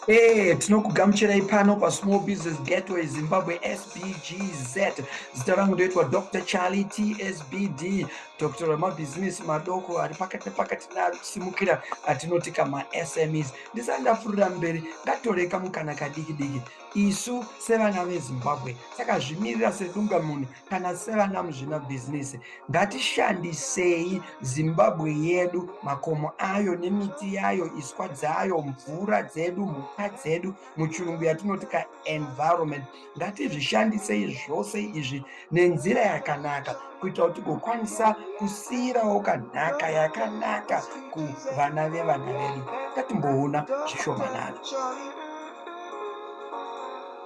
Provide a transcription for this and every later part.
Hey, eh, tinokugamuchirai pano pasmall business gateway zimbabwe sbgz zita rangu ndoitwa dr charlie tsbd doctor remabhizimisi madoko ari pakati nepakati nasimukira atinoti kamasmes ndisati ndapfurira mberi ngatore kamukana kadiki diki isu sevana vezimbabwe saka zvimirira sedungamunhu kana sevana muzvina bhizinisi ngatishandisei zimbabwe yedu makomo ayo nemiti yayo iswa dzayo mvura dzedu mhuka dzedu muchirungu yatinoti kaenvironment ngatizvishandisei zvose izvi nenzira yakanaka kuitira kuti kukwanisa kusiyirawo kanhaka yakanaka kuvana vevana vedu ngatimboona zvishomanana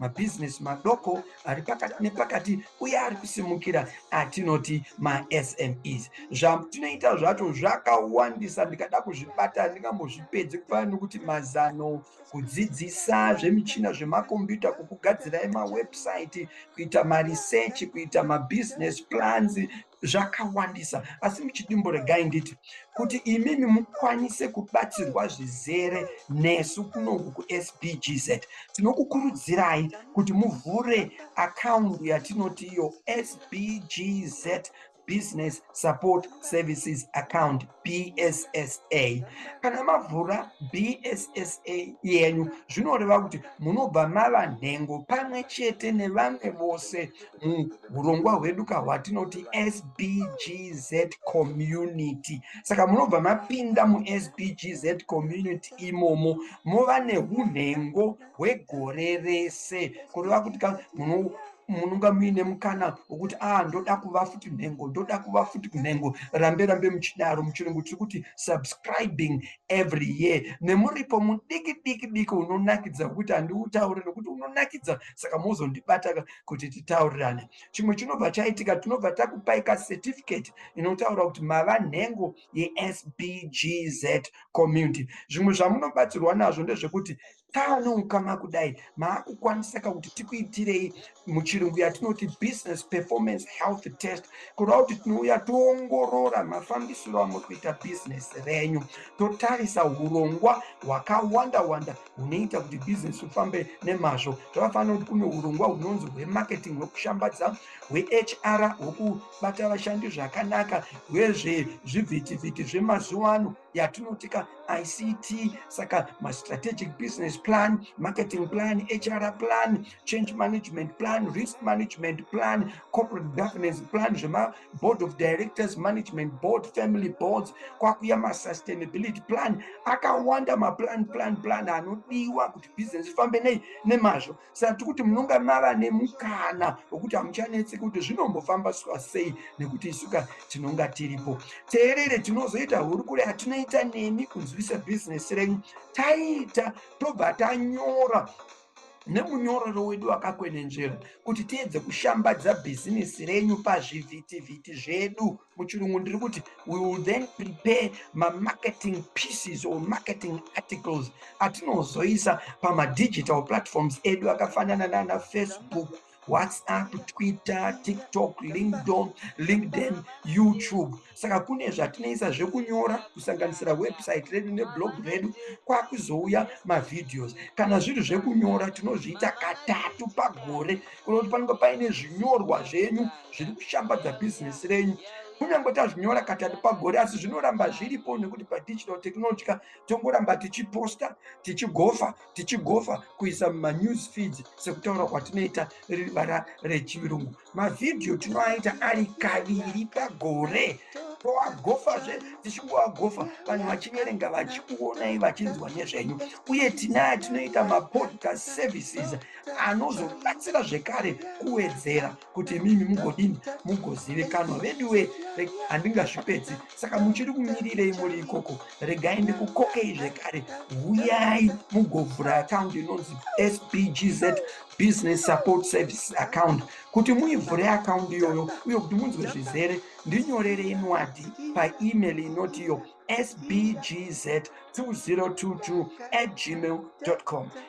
mabhizinesi madoko ari pakati nepakati uye ari kusimukira atinoti masmes zvatinoita zvacho zvakawandisa ndikada kuzvibata ndingambozvipedzi kufana nokuti mazano kudzidzisa zvemichina zvemakombiyuta kukugadzira emawebsite kuita marisechi kuita mabhizinesi plans zvakawandisa asi muchidimbo regai nditi kuti imimi mukwanise kubatsirwa zvizere nesu kunoku kusbgz tinokukurudzirai kuti muvhure akaundi yatinoti iyo sbgz business support services account bssa kana mavhura bssa yenyu zvinoreva kuti munobva mava nhengo pamwe chete nevamwe vose muurongwa hwedu ka hwatinoti sbgz community saka munobva mapinda musbgz community imomo mova neunhengo hwegore rese kureva kuti ka muno munonga muine mukana wokuti a ah, ndoda kuva futi nhengo ndoda kuva futi kunhengo rambe rambe muchidaro muchirungu tiri kuti subscribing every year nemuripo mudiki diki diki unonakidza wekuti handiutaure nokuti unonakidza saka mozondibataka kuti titaurirane chimwe chinobva chaitika tinobva takupai kacertificate inotaura kuti mava nhengo yesbgz community zvimwe zvamunobatsirwa nazvo ndezvekuti taane ukama kudai maakukwanisa ka kuti tikuitirei muchirungu yatinoti business performance health test kureva kuti tinouya toongorora mafambisiro amuri kuita business renyu totarisa urongwa hwakawanda wanda hunoita kuti business ufambe nemazvo zvakafanira kuti kune urongwa hunonzi hwemarketing hwekushambadza hwehr hweku bata vashandi zvakanaka wezve zvivhitivhiti zvemazuva ano yatinotika ict saka mastrategic business plan marketing plan hr plan change management plan risk management plan corporate governance plan zvemaboard of directors management board family boards kwakuya masustainability plan akawanda maplan plan plan anodiwa kuti business ifambe nei nemazvo saka tiri kuti munonga mava nemukana wekuti hamuchanetse kuti zvinombofamba suka sei nekuti isuka tinonga tiripo teerere tinozoita hurukuro yatinoita nemi kunzwisa bhizinesi renyu taita tobva tanyora nemunyororo wedu wakakwenenzvera kuti tiedze kushambadza bhizinesi renyu pazvivhitivhiti zvedu muchirungu ndiri kuti we will then prepare mamarketing pieces or marketing articles atinozoisa pamadigital platforms edu akafanana nana facebook whatsapp twitter tiktok linkdon linkden youtube saka kune zvatinoisa zvekunyora kusanganisira website redu neblog redu kwakuzouya mavideos kana zviri zvekunyora tinozviita katatu pagore kuona kuti panenge paine zvinyorwa zvenyu zviri kushambadza bhizinesi renyu kunyange tazvinyora katatu pagore asi zvinoramba zviripo nekuti padigital technology ka tongoramba tichiposta tichigofa tichigofa kuisa mumanews feeds sekutaura kwatinoita riri vara rechirungu mavhidhiyo tinoaita ari kaviri pagore toagofazve tichingoagofa vanhu vachiverenga vachikuonai vachinzwa nezvenyu uye tinaya tinoita mapodcast services anozobatsira zvekare kuwedzera kuti imimi mugodini mugozivikanwa veduwe handingazvipedzi saka muchiri kumirirei muri ikoko regai ndikukokei zvekare huyai mugovhura akaundi inonzi sbgz business support service account kuti muivhure akaundi iyoyo uye kuti munzwe zvizere ndinyorere inwadhi paemail inoti iyo sbgz 2022 at gmail com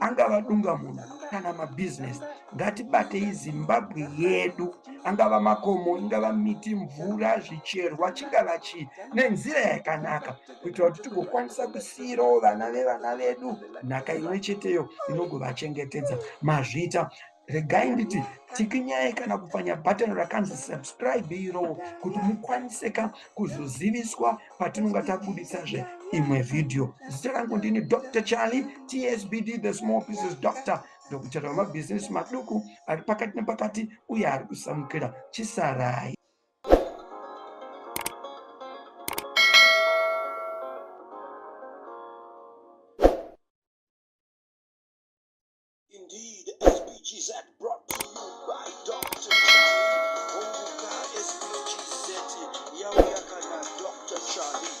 angava dungamunhu kana mabhizinesi ngatibatei zimbabwe yedu angava makomo ingava miti mvura zvicherwa chingava chii nenzira yakanaka kuitira kuti tigokwanisa kusiirawo vana vevana vedu nhaka imwe cheteyo inogovachengetedza mazvita regai nditi tikinyai kana kupfanya bhatani rakanzi subscribe irowo kuti mukwanise ka kuzoziviswa patinonga tabuditsazve imwe vhidhiyo zita rangu ndini dr charlie tsbd the small pieces doctor ndokuchata wemabhizinesi maduku ari pakati nepakati uye ari kusamukira chisarai Indeed, SPGZ brought to you by Dr. Kumbuka SPGZ yauya kana Dr. Charlie.